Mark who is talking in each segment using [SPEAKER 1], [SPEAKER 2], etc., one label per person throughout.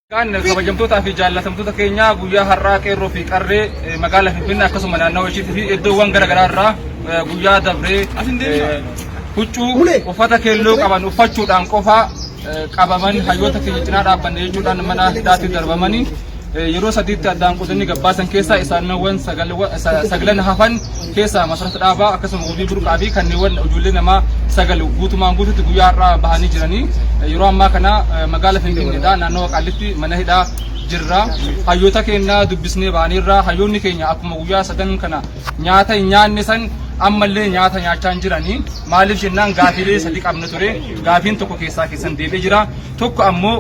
[SPEAKER 1] Kan kabajamtootaa fi jaallatamtoota keenyaa guyyaa har'aa qeerroo fi qarree eh, magaalaa Finfinnee akkasuma naannawa ishiitti fi iddoowwan gara garaa irraa eh, guyyaa dabree eh, huccuu uffata keelloo qaban uffachuudhaan qofa eh, qabaman hayyoota keenya cinaa dhaabbanne jechuudhaan mana hidhaatti darbamanii yeroo sadiitti addaan qodanii gabbaasan keessaa isaanowwan saglan hafan keessaa masarata dhaabaa akkasuma wabii burqaa fi kanneewwan ijoollee namaa sagal guutumaan guututti guyyaa har'aa bahanii jiranii yeroo ammaa kana magaala Finfinneedha naannawa Qaallitti mana hidhaa jirra hayyoota keenya dubbisnee baaneerra hayyoonni keenya akkuma guyyaa sadan kana nyaata hin nyaanne san ammallee nyaata nyaachaa hin jiranii maaliif jennaan gaafiilee sadi qabna ture gaafiin tokko keessaa keessan deebi'ee jira tokko ammoo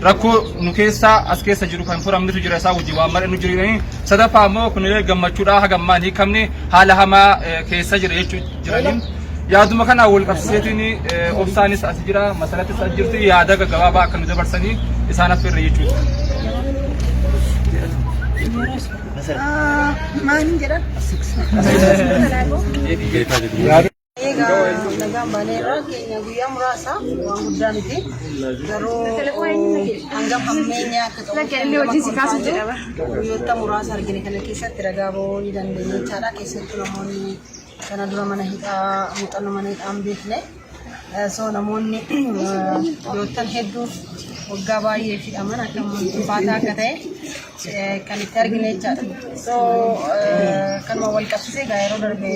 [SPEAKER 1] rakkoo nu keessaa as keessa jiru kan furamnitu jira isaa wajjin waan mar'annu jiranii sadaffaa immoo kunillee gammachuudhaa haga ammaa hin hiikamne haala hamaa keessa jira jechuu jiraniin yaaduma kanaa wal qabsiiseetiin obsaanis as jira masarattis as jirti yaada gaggabaabaa akka nu dabarsanii isaan affeerra jechuudha. Maaliin
[SPEAKER 2] jedhan? Egaa nagaan baanee irraa keenya guyyaa muraasa waan guddaa miti. Garuu hanga hammeenya akka ta'u guyyoota muraasa argine kana keessatti ragaa ba'uu ni dandeenya jechaadha. Keessattuu namoonni kana dura mana hidhaa muuxannoo mana hidhaa hin beekne. So namoonni guyyoottan hedduu waggaa baay'ee hidhaman akka ulfaataa akka ta'e kan itti argine jechaadha. So kanuma wal qabsiisee egaa yeroo darbe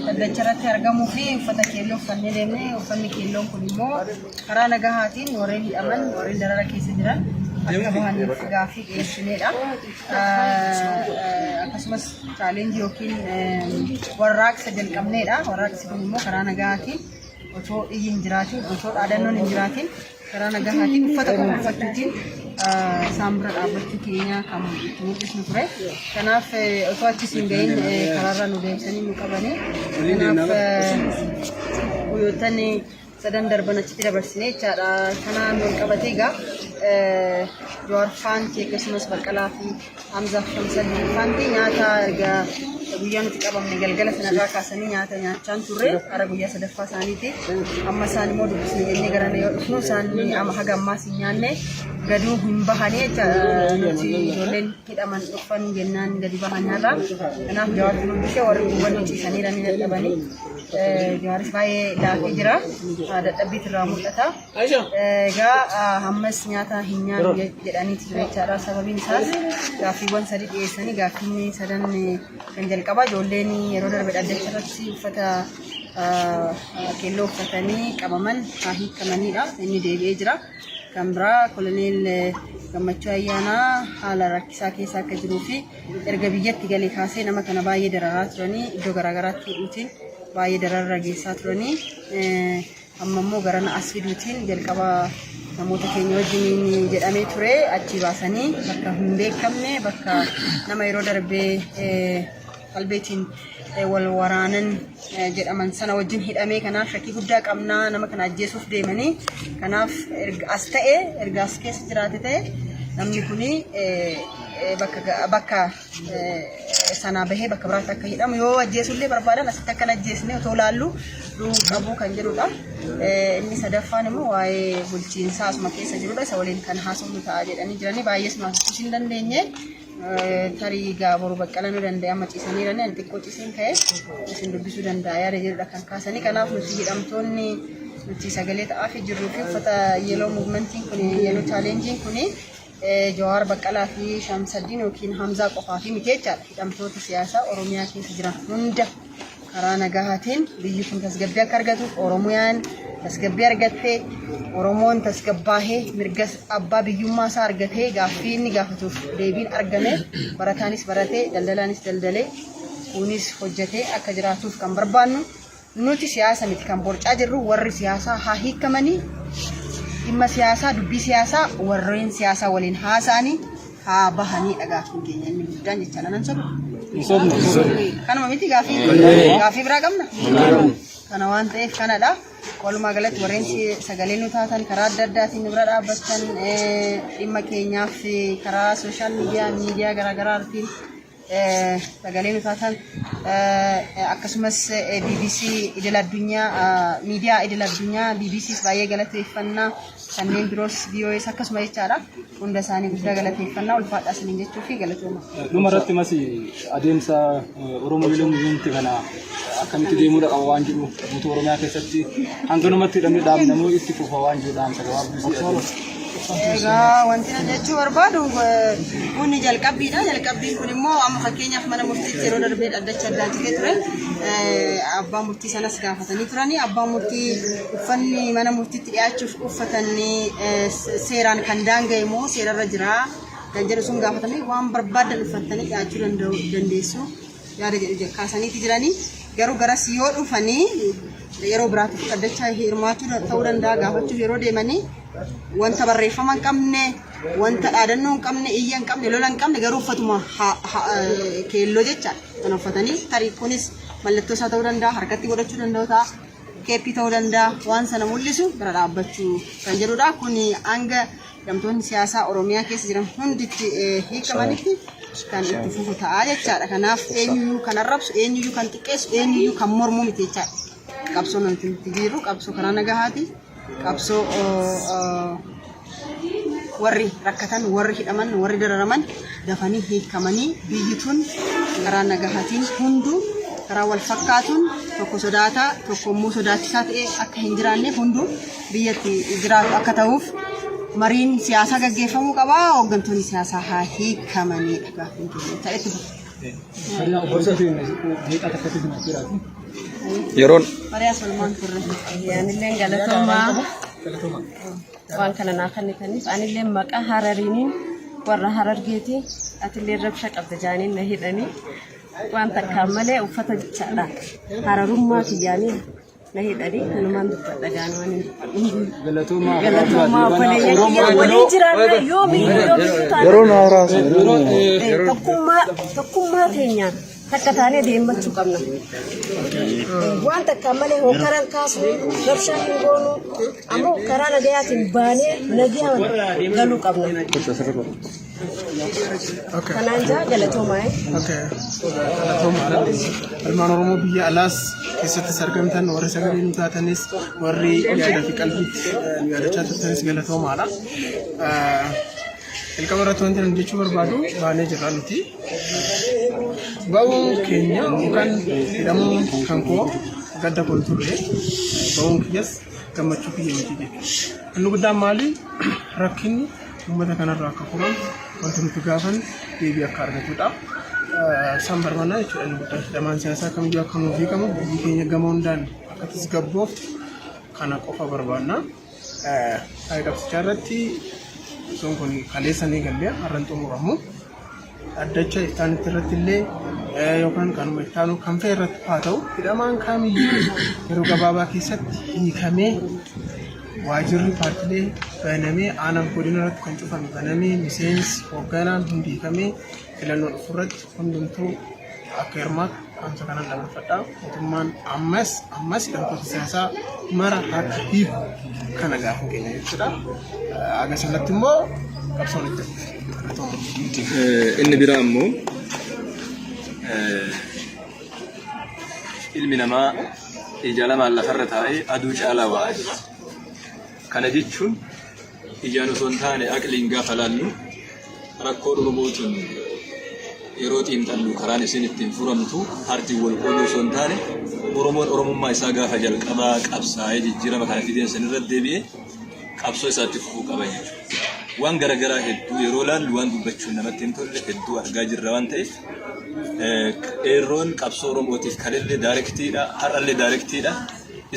[SPEAKER 2] dhaddacha irratti argamuu fi uffata keelloo uffannee deemne uffanni keelloon kun immoo karaa nagahaatiin warreen hidhaman warreen darara keessa jiran akka bahaniif gaaffii dhiyeessineedha. Akkasumas chaalenjii yookiin warraaqsa jalqabneedha. Warraaqsi kun immoo karaa nagahaatiin otoo iyyi hin jiraatiin otoo dhaadannoon hin jiraatiin karaa nagahaatiin uffata qofa uffachuutiin isaan bira dhaabbachuu keenya kan itti mul'isnu ture. Kanaaf osoo achis hin gahin karaarra nu deemsanii nu qabanii. Kanaaf guyyoottan sadan darban achitti dabarsine jechaadha. Kanaan wal qabatee egaa Jawaarfaan akkasumas Baqqalaa fi Hamza Hamza Hanti nyaata erga guyyaa nuti qabamne galgala sanarraa kaasanii nyaata nyaachaan turre gara guyyaa sadaffaa isaaniiti. Amma isaan immoo dubbisne jennee gara yoo dhufnu isaan amma haga ammaas hin nyaanne gaduu hin bahanii jecha nuti ijoolleen hidhaman dhufan jennaan gadi bahan nyaata. Kanaaf jawaatti dubbisee warri guban ciisanii dhabanii jawaaris baay'ee laafee jira. Dadhabbiitu irraa mul'ata. Egaa ammas nyaata hin nyaannu jedhanii ture jechaadha. Sababiin isaas gaaffiiwwan sadii dhiyeessanii gaaffiinni sadan kan jalqabaa ijoolleen yeroo darbe dhaddacha irratti uffata keelloo uffatanii qabaman haa hiikamanidha. Inni deebi'ee jira. Kan biraa koloneel gammachuu ayyaanaa haala rakkisaa keessa akka jiruu fi erga biyyatti galee kaasee nama kana baay'ee dararaa turanii iddoo garaagaraatti hidhuutiin baay'ee dararra geessaa turanii Amma immoo garana as fiduutiin jalqaba namoota keenya wajjiniin jedhamee ture achii baasanii bakka hin beekamne bakka nama yeroo darbee qalbeetiin wal waraanan jedhaman sana wajjin hidhamee kanaaf shakkii guddaa qabnaa nama kana ajjeesuuf deemanii kanaaf as ta'e erga as keessa jiraate ta'e namni kun bakka sanaa bahee bakka biraatti akka hidhamu yoo ajjeesullee barbaadan asitti akka ajjeesne otoo laallu qabuu kan jedhudha. Inni sadaffaan immoo waa'ee bulchiinsaa asuma keessa jirudha. Isa waliin kan haasofnu ta'a jedhanii jiranii baay'ees nu haasofsiisuu hin dandeenye. Tarii gaa boru baqqala nu danda'e amma ciisanii jiranii ani xiqqoo ciiseen ka'e isin dubbisuu danda'a yaada jedhudha kan kaasanii. Kanaaf nuti hidhamtoonni nuti sagalee ta'aa fi jirruu fi uffata yeeloo muuvimentiin kun yeeloo chaaleenjiin kun Jawaar Baqqalaa fi Shamsaddiin yookiin Hamzaa qofaafii miti jechaadha. Hidhamtoota siyaasaa Oromiyaa keessa jiran hunda karaa nagahaatiin biyyi kun tasgabbii akka argatuuf Oromiyaan tasgabbii argattee Oromoon tasgabbaahee mirga abbaa biyyummaa isaa argatee gaaffii inni gaafatuuf deebiin argame barataanis baratee daldalaanis daldalee kunis hojjetee akka jiraatuuf kan barbaannu Nuti siyaasa miti kan borcaa jirru warri siyaasaa haa hiikamanii dhimma siyaasaa dubbii siyaasaa warreen siyaasaa waliin haasa'anii haa bahanii dhagaafin keenya inni guddaan jecha lanan sobu. Kanuma miti gaafii gaafii biraa qabna. Kana waan ta'eef kanadha. Walumaa galatti warreen si- sagalee nu taatan karaa adda addaatiin nu bira dhaabbattan eh, dhimma keenyaaf eh, karaa sooshaal miidiyaa miidiyaa garaagaraartiin sagalee nuuf haa taatu. Akkasumas BBC idil addunyaa miidiyaa idil addunyaa BBCs baay'ee galateeffannaa kanneen biroos BOS akkasuma jechaadha. Hunda isaanii guddaa galateeffannaa ulfaadhaa isiniin jechuu fi galatooma. Dhuma irratti masi
[SPEAKER 3] adeemsa eh, Oromoo Miiloo Muziyeemti kana akkamitti deemuudha qaba waan jedhu guutuu Oromiyaa keessatti hanganumatti hidhamni dhaabnamoo itti fufa waan jedhu dhaamsa gabaabduu si adeemsa. Egaa
[SPEAKER 2] wanti na jechuu barbaadu kun jalqabbiidha. Jalqabbiin kun immoo amma fakkeenyaaf mana murtiitti yeroo darbee dhaddacha addaa ture ture. Abbaan murtii sanas gaafatanii turani. Abbaan murtii uffanni mana murtiitti dhiyaachuuf uffatan seeraan kan daanga'e moo seerarra jira kan jedhu sun gaafatamee waan barbaadan uffattanii dhiyaachuu dandeessu. yaada jedhu je- kaasaniiti jiranii garuu garas yoo dhufanii yeroo biraatiif dhaddachaa hirmaachuu da- ta'uu danda'a gaafachuuf yeroo deemanii wanta barreeffama hin qabne wanta dhaadannoo hin qabne iyya hin qabne lola hin qabne garuu uffatuma ha- ha- eh, keelloo jecha kan uffatanii tarii kunis mallattoo isaa ta'uu danda'a harkatti godhachuu danda'u ta'a keeppii ta'uu danda'a waan sana mul'isu bira dhaabbachuu kan jedhudha kun hanga hidhamtoonni siyaasaa Oromiyaa keessa jiran hundi itti hiikamanitti kan itti fufu ta'a jechaadha. Kanaaf eenyuyyuu kan arrabsu, eenyuyyuu kan xiqqeessu, eenyuyyuu kan mormu miti jechaadha. Qabsoo nuti itti jirru qabsoo karaa nagahaati. Qabsoo warri rakkatan, warri hidhaman, warri dararaman dafanii hiikamanii biyyi tun karaa nagahaatiin hunduu karaa wal fakkaatuun tokko sodaataa tokko immoo sodaachisaa ta'ee akka hin jiraanneef hunduu biyyatti jiraatu akka ta'uuf mariin siyaasaa gaggeeffamuu qaba. Hooggantoonni siyaasaa haa hiikamaniidha gaaffiin keenya ta'etti fufa.
[SPEAKER 4] Yeroon Marii asoomaan
[SPEAKER 2] turre. Anilleen
[SPEAKER 5] galatoomaa waan kana naa kennitaniif anilleen maqaa harariiniin warra harargeeti atilleen rabsha qabda jaaniin na hidhanii waan takkaan malee uffata jechaadha hararummaa kiyyaanii na hidhani kanumaan dubbadha gaanumaan hin dubbadhu. Galatoomaa Galatoomaa obboleeyyan kiyya waliin jiraanna yoomiyyuu yoomiyyuu taana. Yeroo na haraasa.
[SPEAKER 4] Eh, Tokkummaa
[SPEAKER 5] tokkummaa keenyaan takka taanee deemmachuu qabna. Eh, Waan takkaan malee hokkaran kaasuu rabshaa hin goonu ammoo karaa nagayaatiin baanee nagaa galuu qabna. Kanaan jaa galatoomaa.
[SPEAKER 3] Ilmaan Oromoo biyya alaas keessattis argamtan warri sagalee nu taatanis warri yaada fi qalbiitti nu yaadachaa turtanis galatoomaadha. Jalqaba irratti wanti nuti jechuu barbaadu baanee jirra nuti. Ba'uun keenya yookaan hidhamuun kan koo gadda kun ture. Ba'uun kiyyas gammachuu kiyya miti jechuudha. Inni guddaan maali? Rakkinni Uummata kanarraa akka furan wanti nuti gaafan deebii akka argatudha. Isaan barbaannaa jechuudha inni guddaan hidhamaan siyaasaa kamiyyuu akka nuuf hiikamu biyyi keenya gama hundaan akka tasgabbooftu kana qofa barbaannaa. Faayidaa guddaa irratti osoon kun kaleessa ni galle har'an xumuramu. dhaddacha itti aanutti irratti illee yookaan kanuma itti aanu kan fe'e irratti haa ta'u hidhamaan kaamiyyuu yeroo gabaabaa keessatti hiikamee waajirri paartilee banamee aanaan godina irratti kan cufame banamee miseensi hoogganaan hundi hiikamee filannoo dhufu irratti hundumtuu akka hirmaatu Dhaamsa kanan dabarfadha. Mootummaan ammas ammas hidhamtoota siyaasaa mara harka hiiku kana gaafa keenya jechuudha. Aga sanatti immoo qabsoon itti fufa.
[SPEAKER 4] Inni biraa immoo ilmi namaa ija lamaan lafarra taa'ee aduu caalaa waa argata. Kana jechuun Ijaan osoo hin taane aqliin gaafa laallu rakkoo dhukubuu tun yeroo xiinxallu karaan isin ittiin furamtu hartiin wal qooduu osoo hin taane Oromoon Oromummaa isaa gaafa jalqabaa qabsaa'ee jijjiirama kana fideen san irra deebi'ee qabsoo isaatti fufuu qaba jechuudha. Waan garaagaraa hedduu yeroo laallu waan dubbachuun namatti hin tolle hedduu argaa jirra waan ta'eef qeerroon qabsoo Oromootiif kalillee daayirektiidha har'allee daayirektiidha.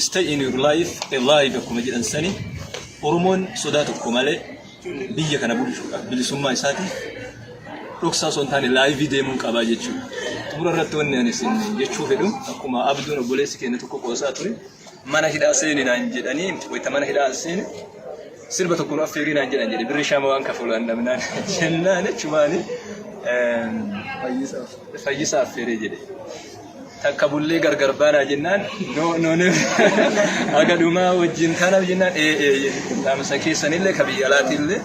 [SPEAKER 4] Stay in your life, a life akkuma jedhan sani Oromoon sodaa tokko malee biyya kana bulchuudhaaf bilisummaa isaatiif dhoksaa osoo hin taane laayivii deemuun qabaa jechuudha. Xumura irratti wanni ani isin jechuu fedhu akkuma abduun obboleessi keenya tokko qoosaa ture mana hidhaa seeni naan jedhanii wayita mana hidhaa seeni sirba tokko nu affeerii naan jedhan jedhe birri shaama waan kafulaan dhabnaan jennaan jechumaani fayyisaa affeeree jedhe. takka bullee gargar baanaa jennaan no no no haga dhumaa wajjin tanaaf jennaan ee ee dhaamsa keessanillee ka biyya alaatiillee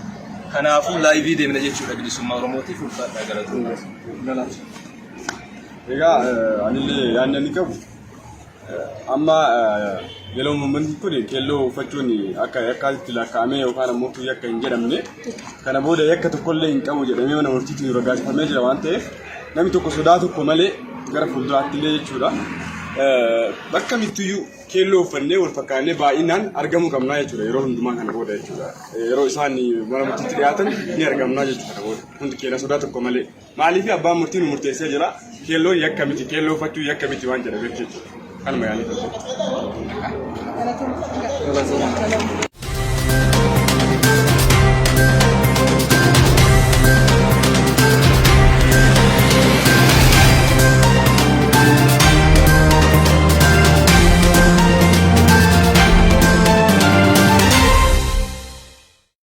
[SPEAKER 4] kanaafuu laayivii deemna jechuudha bilisummaa oromootiif ulfaadhaa
[SPEAKER 6] galatoomaa. Egaa eh, anillee yaadni ani qabu eh, amma eh, yeroo uummanni kun keelloo uffachuun akka yakkaatti lakkaa'amee yookaan ammoo kiyya akka hin jedhamne Kana booda yakka tokkollee hin qabu jedhamee mana murtiitiin raggaasifamee jira waan ta'eef namni tokko sodaa tokko malee gara fuulduraatti illee jechuudha. Bakka mittiyyuu keelloo uffannee wal fakkaannee baay'inaan argamuu qabnaa jechuudha yeroo hundumaa kana booda jechuudha. Yeroo isaan mana murtiitti dhiyaatan ni argamnaa jechuudha kana booda hundi keenya sodaa tokko malee. Maaliif abbaan murtii nu murteessee jira keelloon yakka miti keelloo uffachuu yakka miti waan jedhameef jechuudha. Kanuma yaanii ture.